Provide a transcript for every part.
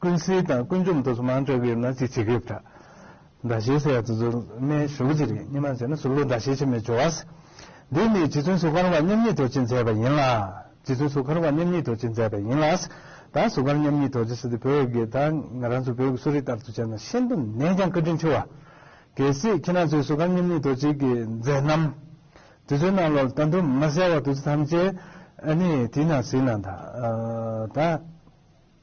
ཀུན་གསལ་དང་ཀུན་འཇོམས་དུ་མར་འབྲེལ་བ་ཡོད་ན་གཅིག་བྱེད་དགོས་པ་འདྲ། ཟླ་ཤེལ་ཟེར་བ་དེ་ཚོ་སྨན་ཞོ་ཅིག་རེད་སྙེ་མ་བྱས་ན་ཟུག་ལུག་ཟླ་ཤེལ་ཆེ་མེད་སྦྱོར་བ་ཟེར། འདི་ནི་རྗེ་བཙུན་གཟུགས་མཁར་བ་མཉམ་ཉིད་རྡོ་རྗེས་མཛད་པ་ཡིན་ལ། རྗེ་བཙུན་གཟུགས་མཁར་བ་མཉམ་ཉིད་རྡོ་རྗེས་མཛད་པ་ཡིན་ལ། ད་གཟུགས་མཁར་མཉམ་ཉིད་རྡོ་རྗེ་སི་ཏུ་བོད་དགེ་ད་ང་རང་ཚོ་བོད་ཀྱི་གསོ་རིག་ལྟར་དུ་བྱས་ན་ཤིན་ཏུ་ནས་ཀྱང་བཀའ་དྲིན་ཆེ་བ། གལ་སྲིད་ཁྱེད་རང་ཚོས་གཟུགས་མཁར་མཉམ་ཉིད་རྡོ་རྗེ་གིས་མཛད་རྣམ་དེ་ཚོའི་རྣ་ལོར་ལྟ་འདུག་མ་གསལ་བ་དེ་ཚོ་ཐམས་ཅད་ཨ་ནི་དེ་ན་ཟིན་ན་ད།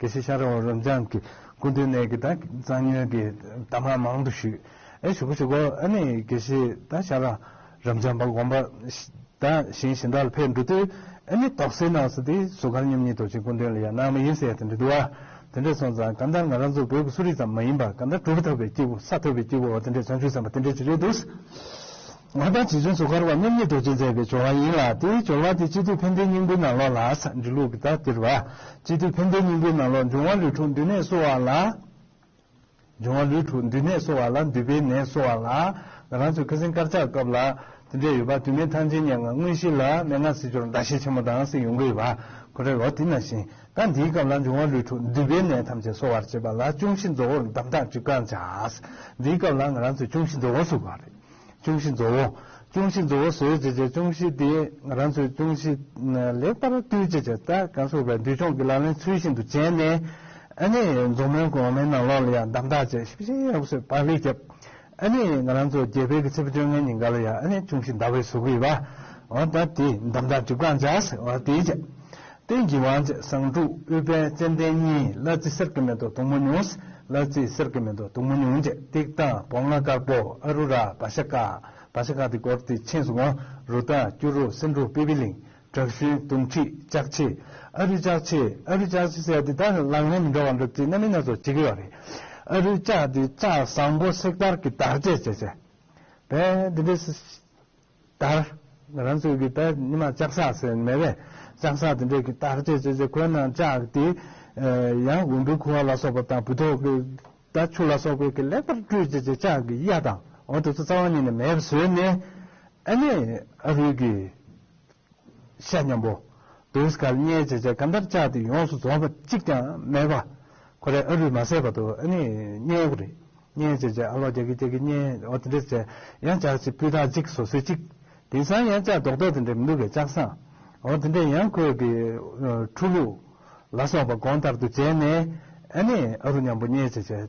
གལ་སྲིད་ཤ་རོགས་རབ་འབྱམས་ཀྱིས་ཀུན་ཏུ་ནད་ཀྱི་དང་གཙང་སྨྱོན་གྱི་གཏམ་ངག་མང་དུ་ཞུས། ཨེ་ཞུ་གོ་ཞུ་གོ་ཨ་ནི་གལ་སྲིད་ད་ཤ་རང་རབ་འབྱམས་པ་དགོངས་པ་དང་བཞིན་ཞིང་བྲག་ལ་ཕེབས་འགྲོ་དུས་ཨེ་ནི་དོགས་སེལ་གནང་སོང་དུས་སུ་གར་སྙོམས་གཉིས་དོགས་ཅན་ཀུན་དོན་ལ་ཡང་གནང་མ་ཡིན་ཟེར་ཡ་དེ་འདྲ་འདུག་ཨ། དེ་འདྲ་སོང་ཙང་གང་ལྟར་ང་རང་ཚོ་བོད་ཀྱི་གསོ་རིག་ཙམ་མ་ཡིན་པར་གང་ལྟར་གྲུབ་ཐོབ་པའི་སྐྱེས་བུ་ས་ཐོབ་པའི་སྐྱེས་བུ་འོ་དེ་འདྲས་བྱང་ཆུབ་སེམས་པ་དེ་འདྲས་ཅིག་རེད་འདུག། ང་དང་རྗེ་བཙུན་གཙོ་མཁར་བ་རྣམ་གཉིས་རྡོ་རྗེས་མཛད་པའི་སྦྱོར་བ་ཡིན་ལ་དེའི་སྦྱོར་བ་དེ་སྤྱི་འཐུས་ཕན་བདེའི་སྙིང་པོའི་ནང་ལོགས་ལ་ས་འབྲི་ལུགས་ཀྱི་དག་སྟེར་བ། སྤྱི་འཐུས་ཕན་བདེའི་སྙིང་པོའི་ནང་ལོགས་འབྱུང་བ་ལུས་འཁྲུགས་འདུས་ནད་གསོ་བ་ལ། འབྱུང་བ་ལུས་འཁྲུགས་འདུས་ནད་གསོ་བ་ལ་འདུས་པའི་ནད་གསོ་བ་ལ། ང་རང་ཚོའི་ཁ་སེང་དཀར་ཆག་སྐབས་ལ་དེ་འདྲས་ཡོད་པ་དུས་མེད་ཐང་ཆེན་སྙན་ངག་དངོས་གཞི་ལ་མན་ངག་སྲིད་འབྱོར་ཟླ་ཤེལ་ཆེན་མོ་དང་སྲིད་ཡོང་གི་ཡོད་པ་ཁོ་རེ་བ་དེ་ན་བཞིན་ད་འདིའི་སྐབས་ལ་འབྱུང་བ་ལུས་འཁྲུགས་འདུས་པའི་ནད་ཐམས་ཅད་གསོ་བར་བྱེད་པ་ལ་ཅུང་ཞིག་མཛོ་བོར་འདམ་ཐག་ཅིག་བཀང་བྱ། འདིའི་སྐབས་ལ་ང་རང་ཚོས་ཅུང་ཞིག་མཛོ་བོ་བཟོ་དགོས་པ་རེད། ཅོང་ཞི་བཟོ་བོ། ཅོང་ཞི་བཟོ་བོ་བཟོས་རྗེས་ཀྱི་ཅོང་ཞི་དེ་རང་ཚོའི་ཅོང་ཞི་ལེགས་པར་བཏུལ་རྗེས་ཀྱི་རྩྭ་ཀ་བསྲུབས་པའི་འདུལ་སྦྱོང་གི་ལག་ལེན་ཚུལ་བཞིན་དུ་བྱས་ནས། ཨ་ནེ་མཛོ་མོའི་གོང་མའི་ནང་ལོགས་ལ་ཡང་འདམ་བཏགས་རྗེས་ཞིབ་ཅིང་ཡག་པོས་བག་ལེབ་བརྒྱབ། ཨ་ནེ་ང་རང་ཚོ་རྒྱལ་བལ་གྱི་ཚེས་བཅོ་ལྔའི་ཉིན་འགའ་ལ་ཡང་ཨ་ནེ་ཅོང་ཞི་འདར་བའི་ཟུག་གུས་བ། འོ་ད་དེས་འདམ་བཏགས་གྲིབ་གང་བྱ། འོ་དེས་བྱ། བསྟན་གྱི་དབང་བྱེད་གསང་དྲུག་དབུས་དཔལ་ཙན་དན་གཉིས་གླ་རྩི་གསེར་གྱི་མེ་ཏོག་དུང་མོ་ཉུང། གླ་རྩི་གསེར་གྱི་མེ་ཏོག་དུང་མོ་ཉུང་བཅས་ཏིག་དང་བོ་ལྔ་དཀར་པོ་ཨ་རུ་ར་བ་ཤ་ཀ། བ་ཤ་ཀ་ཏི་གོར་ཏི་ཆིན་སུ་ཝང་རུ་ཏཱ་སྐྱུ་རུ་སིན་རུ་པི་པི་ལིང་བྲག་ཞུན་དུང་ཁྲི་ལྕགས་ཕྱེ། ཨ་རུའི་ལྕགས་ཕྱེ་ཨ་རུའི་ལྕགས་ཕྱེ་ཟེར་ཏེ་ད་ནི་ལག་ལེན་མི་འདྲ་བ་འགྲུབ་རྩིས་སྣ་མིན་སྣ་ཚོགས་བྱེད་ཀྱི་ཡོད་རེད། ཨ་རུའི་ལྕགས་དེ་ལྕགས་བཟང་པོ་གསེར་དཀར་གྱི་དག་བྱེད་བྱེད་བྱེད་པས་འདི་འདྲའི། ལྟར། ང་རང་ཚོའི་གི་པད་ཉི་མ་ལྕགས་ཟག་ཟེར་ནས་རེད། ལྕགས་ཟག་དེ་འདྲས་གི་བརྟག་དཔྱད་བྱས་ཚེ་ཁོའི་ནང་ལྕགས་དེ། ཡང་འོམ་བུའི་ཁུ་བ་ལ་སོགས་པ་དང་བུ་ཐོག་གི་ད་ཆུ་ལ་སོགས་པའི་གི་ལེགས་པར་བཀྲུས་རྗེས་ཀྱི་ལྕགས་གི་གཡའ་དང་འོ་དེ་ཚོ་རྩ་བ་ཉིད་ནས་མེད་པར་བཟོས་ནས། ཨ་ནེ་ཨ་རུས་གི། བཤད་སྙམ་པོ། བུས་སྐལ་བརྙེས་རྗེས་ཆེ་ག་འདབ་ཆགས་དེ་ཡོངས་སུ་རྫོགས་པ་གཅིག་ཀྱང་མེད་པ། ཁོ་རེ་ཨ་རུས་མ་བསད་པ་དུ་ཨ་ནི་བརྙེས་པོ་རེད། བརྙེས་རྗེས་ཆེ་ཨ་ལོ་རྒྱག་གི་རྒྱག་གི་བརྙེས་འོ་དེ་འདྲས་ཆེ་ཡང་ལྕགས་གཅིག་སྤུས་དག་གཅིག་བཟོ་སྲོལ་གཅིག། དེང་སང་ཡང་ལྕགས་རྡོག་རྡོག་དེ་འདྲས་མི་འདུག་གས་ལྕགས་ཟངས་འོ་དེ་འདྲས་ཡང་ཁོས་གི་ཁྲུ་ལུག་ལ་སོགས་པ་གོང་ལྟར་དུ་བྱས་ནས་ཨ་ནི་ཨ་རུ་སྙམ་པོ་བརྙེས་རྗེས་ཆེ།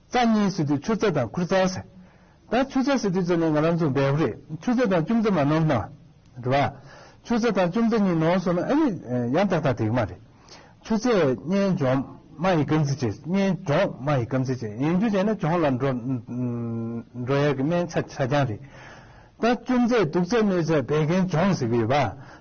རྩ་གཉིས་སི་ཏུ་ཆུ་རྩ་དང་ཁུར་རྩ་སེ། ད་ཆུ་རྩ་སི་ཏུ་རྩ་ནི་ང་རང་ཚོ་འབད་པོ་རེད་ཆུ་རྩ་དང་ལྕུམ་རྩ་མ་ནོར་ན། རེད་བ། ཆུ་རྩ་དང་ལྕུམ་རྩ་གཉིས་ནོར་སོང་ན་ཨ་རིག་ཡང་ཏག་ཏག་དེག་མ་རེད། ཆུ་རྩས་སྙན་ལྗོངས་མ་ཡི་སྐམ་ཚི་བྱས་སྙན་ལྗོངས་མ་ཡི་སྐམ་ཚི་བྱས་ཡིན་རྒྱུ་བྱས་ན་གྱོང་ལ་འགྲོ། འགྲོ་ཡག་གི་སྨན་ཆ་ཆ་རྐྱང་རེད། ད་ལྕུམ་རྩས་དུག་རྩ་གནོད་རྩ་བད་ཀན་སྦྱོང་ཟེར་གི་ཡོད་བ།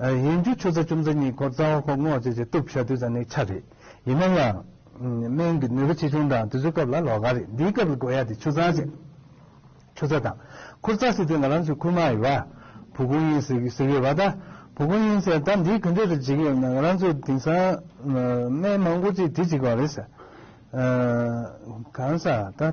ཡིན་རྒྱུ་ཆུ་ཚ་ཆུ་མཛོད་གཉིས་འཁོར་རྩ་བ་འཁོར་སྔོག་བཅས་ཀྱི་གཏུབ་ཤ་དུས་ཚ་ནི་ཆ་རེད། ཡིན་ན་ཡང། སྨན་གྱི་ནུས་པ་ཆེ་ཆུང་དང་དུས་ཚོད་སྐབས་ལ་ལོག་ག་རེད་འདིའི་སྐབས་ལ་དགོས་ཡ་དེ་ཆུ་ཚ་རེད། ཆུ་ཚ་དང། འཁོར་རྩ་ཟེར་དུས་ང་རང་ཚོའི་ཁུལ་མ་ཡི་བ། བུ་གུང་ཡིན་ཟེར་ཟེར་གི་བ་ད། བུ་གུང་ཡིན་ཟེར་ད་འདིའི་གུན་འདྲེ་རེ་འཇིག་ཡོད་ན་ང་རང་ཚོས་དེང་སང། སྨན་མང་པོ་ཅིག་དེ་འཇིག་བ་རེད། གང་ཟག་ད།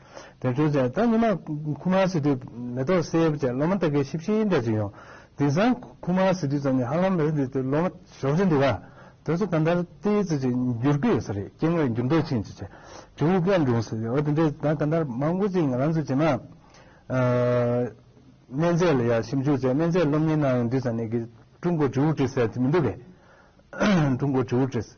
དེར་བྱོན་ཚེ་ད་ཉི་མ་ཁུ་མཱ་སི་ཏུས་མེ་ཏོག་བསེའི་བུ་བཅས་སློབ་མ་སྟག་གི་ཤི་བཞིའི་འདྲ་བྱུང་ཡང། དེང་སང་ཁུ་མཱ་སི་ཏུས་ཙམ་ནས་ཧ་ལམ་མེ་རི་འདི་ལྟའི་སློབ་མ་ཞོགས་ཆེན་འདུག་ག་དེ་ཚོ་ད་ལྟར་ཏི་ཡི་ཙི་ཅིག་འགྱུར་གི་ཡོད་ས་རེད་སྐྱེ་དངོས་འགྱུར་ལྡོག་ཕྱིན་ཅི་ཆེ་དྲི་བའི་སྐད་འབྱུང་སྲིད་འོ་དེ་འདྲའི་ད་ད་ལྟར་མང་པོ་ཅིག་ང་རང་ཚོས་བྱེད་ན། སྨན་རྫས་ལ་ཡང་ཞིབ་འཇུག་བྱས་སྨན་རྫས་སློབ་གཉེར་གནང་ཡང་འདི་ས་གནས་ཀྱི་ཀྲུང་གོ་ཇུའུ་ཀྲི་སེ་དེ་མི་འདུག་གས། ཀྲུང་གོ་ཇུའུ་ཀྲི་སེ།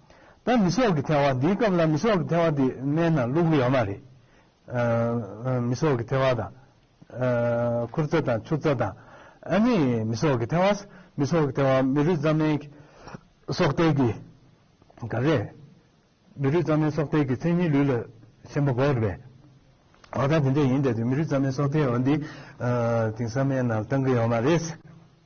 ད་མི་སྲོག་གི་ཐལ་བ་འདིའི་སྐབས་ལ་མི་སྲོག་གི་ཐལ་བ་དེ་མནན་ན་བླུག་གི་ཡོད་མ་རེད། མི་སྲོག་གི་ཐལ་བ་དང། མཁུར་རྩ་དང་ཆུ་རྩ་དང། ཨ་ནི་མི་སྲོག་གི་ཐལ་བ། མི་སྲོག་གི་ཐལ་བ་མི་རུས་རྩ་མའི་སྲོག་ཐལ་གྱི་ག་རེད། མི་རུས་རྩ་མའི་སྲོག་ཐལ་གྱི་མཚན་ཉིད་ལུས་ལ་ཞེན་པ་འགོག་རེད་པས། ད་དེ་འདྲ་ཡིན་དེ་མི་རུས་རྩ་མའི་སྲོག་ཐལ་བ་འདི་དེང་སང་མནན་ན་བཏང་གི་ཡོད་མ་རེད།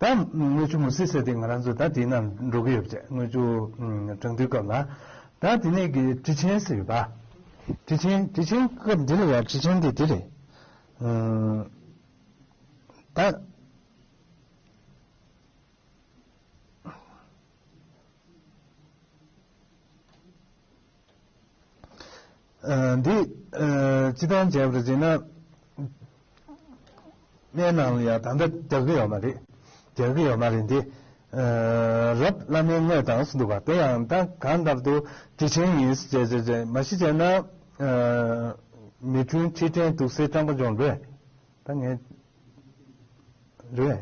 ད་དངུལ་ཆུ་མུ་སི་སེ་དེ་ང་རང་ཚོ་ད་དེ་ན་འགྲོ་གི་ཡོད་བྱས་དངུལ་ཆུ་གྲང་དུས་སྐབས་ལ། ད་དེ་ནས་གི་དྲི་ཆེན་ཟེར་ཡོད་པ། དྲི་ཆེན་དྲི་ཆེན་སྐབས་འདི་ལ་ཡང་དྲི་ཆེན་དེ་དེ་རེད། ད། འདི་སྤྱི་དང་བྱས་པར་བྱས་ན། གནས་ནང་ལ་ཡང་ད་ལྟ་རྒྱག་གི་ཡོད་མ་རེད། རྒྱག་གི་ཡོད་མ་རེད་འདི། རབ་བླ་མའི་དངོས་དང་སུ་འདུག་པ་དེ་ཡང་ད་གང་ལྟར་དུ་དྲི་ཆེན་ཡིན་བྱས་བྱས་བྱས་མ་ཤི་བྱས་ན། མི་དྲུང་ཁྲི་དྲན་དུག་སེལ་སྤྲང་པོ་ལྗོངས་རེད། ད་ངས། རེད།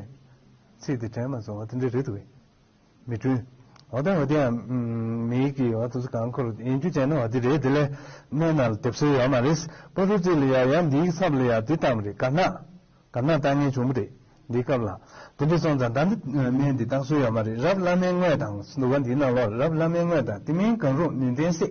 ཚིག་དེ་དྲན་མ་སོང་བ་དེ་འདྲ་རེད་འདུག་གས། མི་བསྐྲུན། འོ་དེ་འོ་དེའམ། མིག་གིས་འོ་དེ་ཚོ་གང་འཁོར་ཡིན་རྒྱུ་མཚན་ནི་འོ་དེ་རེད་དེ་ལས་སྣེ་ན་ལ་དེབ་སོལ་ཡོད་མ་རེད། པོ་ཏོ་ཙི་ལ་ཡ་ཡ་འདིའི་ཚབ་ལ་ཡ་དེ་ལྟ་མ་རེད་དཀར་ནག། དཀར་ནག་ལྟ་ངན་བྱུང་མ་རེད་འདིའི་སྐབས་ལ། དེ་འདྲ་སོང་ཙང་ད་འདི་སྨན་འདི་བཏང་སོལ་ཡོད་མ་རེད་རབ་བླ་མའི་དངོས་དང་སུ་འདུག་ག་འདིའི་ནང་ལོག་རབ་བླ་མའི་དངོས་དང་དེ་མིན་གང་རུང་ནུས་ལྡན་བསྲེགས།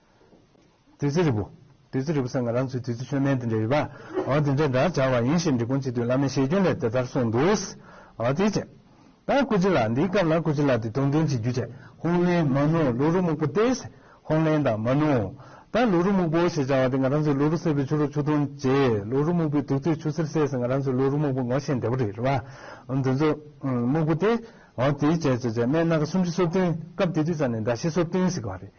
བདུད་རྩི་རིལ་བུ། བདུད་རྩི་རིལ་བུ་ཟེར་ང་རང་ཚོའི་བདུད་རྩི་ཆོས་སྨན་དེ་འདྲ་ཡོད་པ། དེ་འདྲ་འདྲ་སྦྱར་བ་ཡིན་ཞེས་འབྲི་གུང་སྤྱི་འཐུས་བླ་མའི་ཞལ་སྐྱོན་ལས་དེ་ལྟར་གསུངས་འདུག། དེའི་རྗེས། ད་སྐུ་སྤྱི་ལ་འདིའི་སྐབས་ལ་སྐུ་སྤྱི་ལ་དེ་དོན་མཐུན་གྱི་རྒྱུ་བྱས། ཧོང་ལེན་མ་ནུའོ་ལུག་རུ་སྨུག་པོ་སྟེ། ཧོང་ལེན་དང་མ་ནུའོ། ད་ལུག་རུ་སྨུག་པོ་ཞེས་བྱ་བ་དེ་ང་རང་ཚོའི་ལུག་རུ་སེར་པོའི་ཆུ་རུ་ཆུ་འཐུང་རྗེས་ལུག་རུ་སྨུག་པོའི་དུག་ཚོས་ཆུ་སེར་སེལ་ཟེར་ང་རང་ཚོའི་ལུག་རུ་སྨུག་པོ་ངོ་ཤེས་བདེ་པོ་རེད་བ། དེ་ཚོ། སྨུག་པོ་སྟེ། དེའི་རྗེས། མའི་སྣ་ཁ་སུམ་ཅུ་སོ་བདུན་སྐབས་དེ་དུས་ཙམ་ནས་མདའ་བཞི་སོ་བདུན་ཟེར་གྱི་བ་རེད།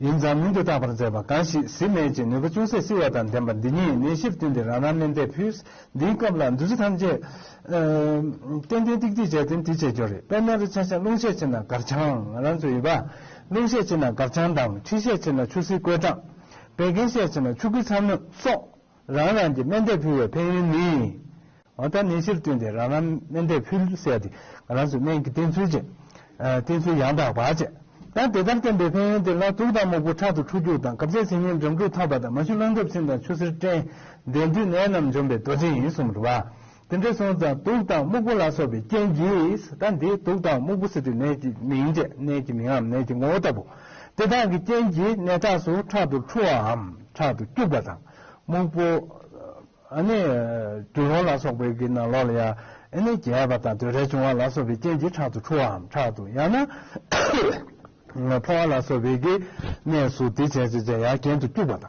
ཡིན་ཙང་མིང་དུ་བཏགས་པར་མཛད་པ་གང་ཞིག་གཟིམས་མལ་གྱི་ནུས་པ་ཅུང་ཟད་བསིལ་བ་དང་ལྡན་པ་འདི་ཉིད་གནས་གཞིར་བསྟུན་ཏེ་རང་རང་གནས་འདས་ཕུས། འདིའི་སྐབས་ལ་འདུ་བྱེད་ཐམས་ཅད། ཏན་ཏན་ཏིག་ཏིག་བྱས་ཏེ་འདི་བྱེད་འགྱུར་རེད་དཔེར་ན་རི་ཆགས་ཤིང་ཀླུང་ཤས་ཆེ་ན་སྒར་བྱང། རང་ཚོད་ཡོད་པ། ཀླུང་ཤས་ཆེ་ན་སྒར་བྱང་དང་ཁྲི་ཤས་ཆེ་ན་ཆུ་སྲིན་བརྐོས་གྲང། བད་ཀན་ཤས་ཆེ་ན་ཆུ་སྐུད་ཚ་སྣོད་སོགས། རང་རང་གི་སྨན་བསྟེན་ཕུལ་བའི་ཕན་ཡོན་ནི། འོ་ད་ནད་གཞིར་བསྟུན་ཏེ་རང་རང་སྨན་བསྟེན་ཕུལ་བསལ་ཏེ་ང་རང་ཚོས་སྨན་གྱི་བསྟེན་ཚུལ་བཅས། བསྟེན་ཚུལ་ཡང་དག་པ་བཅས། ཡང་དེ་ལྟར་བསྟེན་པའི་ཕན་ཡོན་དེ་ལ་དུག་དང་མུག་པོ་ཁྲག་ཏུ་འཁྲུ་རྒྱུག་དང་གབ་ཚད་ཇེ་ཉེ་འཇོམས་དྲུག་ཐག་པ་དང་མ་ཞུ་རླངས་འཁྲབ་ཚིང་དང་ཆུ་སེར་སྐྲན། འདྲེ་འདུས་ནད་རྣམས་འཇོམས་པའི་རྡོ་རྗེ་ཡིན་གསུངས་པ། དེ་འདྲའི་སོང་ཙང་དུག་དང་སྨུག་པོ་ལ་སོགས་པའི་རྐྱེན་གྱིས་ད་འདི་དུག་དང་སྨུག་པོ་ཟེར་དུས་ནད་ཀྱི་མིང་སྟེ་ནད་ཀྱི་མིང་ངམ་ནད་ཀྱི་ངོ་བོ་ལྟ་བུ། དེ་དག་གི་རྐྱེན་གྱིས་ནད་ཁྲག་སོ་ཁྲག་ཏུ་འཁྲུ་བའམ་ཁྲག་ཏུ་སྐྱུགས་པ་དང། སྨུག་པོ། ཨ་ནི། དུད་རོང་ལ་སོགས་པའི་གི་ནང་ལོགས་ལ་ཡང་ཨེ་ནི་རྒྱས་པ་དང་དུད་རལ་བྱུང་བ་ལ་སོགས་པའི་རྐྱེན་གྱིས་ཁྲག་ཏུ་འཁྲུ་བའམ་ཁྲག་ཏུ་ཡང་ན། ཕོ་བ་ལ་སོགས་པའི་གི་ནད་སུ་དེ་བྱས་ཙེ་ཙེ་ཡང་གྱེན་དུ་སྐྱུགས་པ་དང།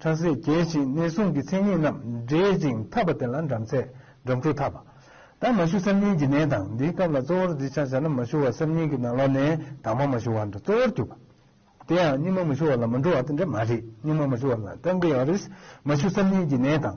ཁྲག་ཟས་རྒྱས་ཤིང་གནས་སྲུང་གི་མཚན་ཉིད་རྣམས་འདྲེས་ཅིང་འཐབ་པ་དེ་ལ་འགྲམ་ཚད་འགྲམ་འཁྲུགས་འཐབ་པ། དང་མ་ཞུ་སེམས་གཉིས་ཀྱི་ནད་དང་འདིའི་སྐབས་ལ་གཙོ་བོར་འདི་ཆ་བྱ་ན་མ་ཞུ་བ་སེམས་གཉིས་ཀྱི་ནང་ལོག་ནས་དྭངས་མ་མ་ཞུ་བ་འདྲ་གཙོ་བོར་གྱུར་པ། དེ་ཡང་སྙིགས་མ་མ་ཞུ་བ་ལ་མ་འགྲོ་བ་དེ་འདྲ་མ་རེད་སྙིགས་མ་མ་ཞུ་བ་ལ་རྟགས་འགའི་ཡང་རེས་མ་ཞུ་སེམས་གཉིས་ཀྱི་ནད་དང།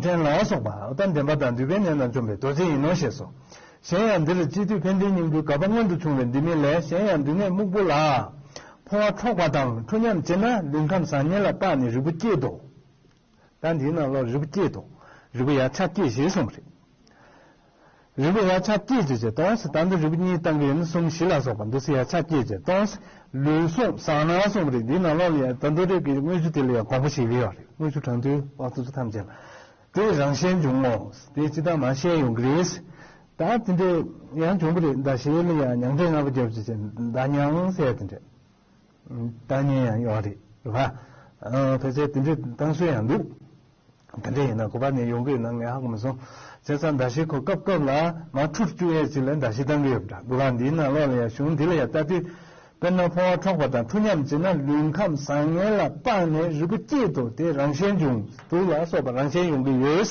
འདྲེན་ལ་སོགས་པ་ཨུཏྤ་འདྲེན་པ་དང་འདུས་པའི་ནད་རྣམས་འཇོམས་པའི་རྡོ་རྗེ་ཡིན་ནོ་ཞེས་སོ། གཞན་ཡང་འདིར་སྤྱི་བསྡུས་བྷན་དྷའི་སྙིང་པོའི་གབ་པ་སྔོན་དུ་བྱུང་བས་འདི་མིན་ལས་གཞན་ཡང་འདུས་ནད་སྨུག་པོ་ལ། ཕོ་བ་འཕྲོག་པ་དང་ཁྲོ་ཉམས་བྱེད་ན་ལུས་ཁམས་བཟང་ངན་ལ་དཔགས་ནས་རིལ་བུ་བསྐྱེད་དོ། ད་འདིའི་ནང་ལོགས་རིལ་བུ་བསྐྱེད་དོ། རིལ་བུ་ཡང་ཕྱག་བསྐྱེད་ཞེས་གསུངས་པ་རེད། རིལ་བུ་ཡ་ཆ་བསྐྱེད་བྱེད་ཀྱི་སྟོང་གསལ་དང་འདི་རིལ་བུ་གཉིས་བཏང་གི་ཡིན་གསུམ་བཞི་ལ་སོགས་པ་འདུ་ཤེས་ཡ་ཆ་བསྐྱེད་བྱེད་སྟོང་གསལ་ལུས་ཟུངས་བཟང་ནག་གསུམ་རེད་འདི་ནང་ལོགས་ལ་ཡང་དོན་རྡོ་རིལ་གྱི་དངོས་གཞི་དེ་ལ་ཡང་གོང་བུ་ཞིག་ཡོད་རེད་དངོས་གཞི་གྲོང་ཚོའི་བ་སོ་སོ་ཐམས་ཅད་ལ་དེ་རང་བཞིན་འབྱུང་ངོ་དེ་ཅི་ལྟར་མ་ཤེས་ཡོང་གི་རེད་ད་དེ་འདྲས་ཡང་འབྱུང་གི་རེད་ཟླ་ཤེལ་ལ་ཡང་མྱང་འདྲེ་ལྔ་པོ་རྒྱབ་བྱེད་ཀྱི་ཟླ་མྱང་གསལ་དེ་འདྲས། ལྟ་ཉན་ཡང་ཡོད་རེད་ལ། ཕལ་ཆེར་དེ་འདྲའི་གཏང་སྲོལ་ཡང་འདུག། དེ་འདྲ་ཡིན་ན་གོ་བ་ནི་ཡོང་གི་ཡོད་ན་ངས་ཧ་གོ་མི་སོང། བྱས་ཙང་མདའ་བཞི་ཁོ་སྐབས་སྐབས་ལ་མ་འཁྲུར་བཅུག་ཡས་ཅིག་ལ་མདའ་བཞི་གཏང་གི་ཡོད་འདྲ། གོ་བ་འདིའི་ནང་ལོགས་ལ་ཡང་གཞུང་འདི་ལ་ཡང་ལྟ་དུས། དཔེར་ན་ཕོ་བ་འཕྲོག་པ་དང་འཁྲུ་མཉམ་བྱེད་ན་ལུས་ཁམས་བཟང་ངན་ལ་དཔག་ནས་རིལ་བུ་སྐྱེས་འདུག་དེ་རང་བཞིན་འབྱུང་འདུག་ལ་སོགས་པ་རང་བཞིན་ཡོང་གི་ཡོད།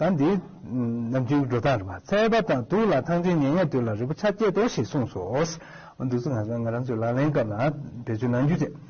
ཟླ་འདིའི་ནམ་རྒྱུན་གྱི་འགྲོ་སྟངས་རེད་མ་ཚད་པ་དང་སྡུག་ལ་ཐང་ཆེན་ཉལ་ཉལ་དུས་ལ་རི་བོ་ཆ་བསྐྱེད་དོ་ཞེས་གསུངས་སོ། འདུག་ཚུལ་ང་ཚོ་ང་རང་ཚོའི་ལག་ལེན་སྐབས་ལ་བེད་སྤྱོད་གནང་རྒྱུ་དེ།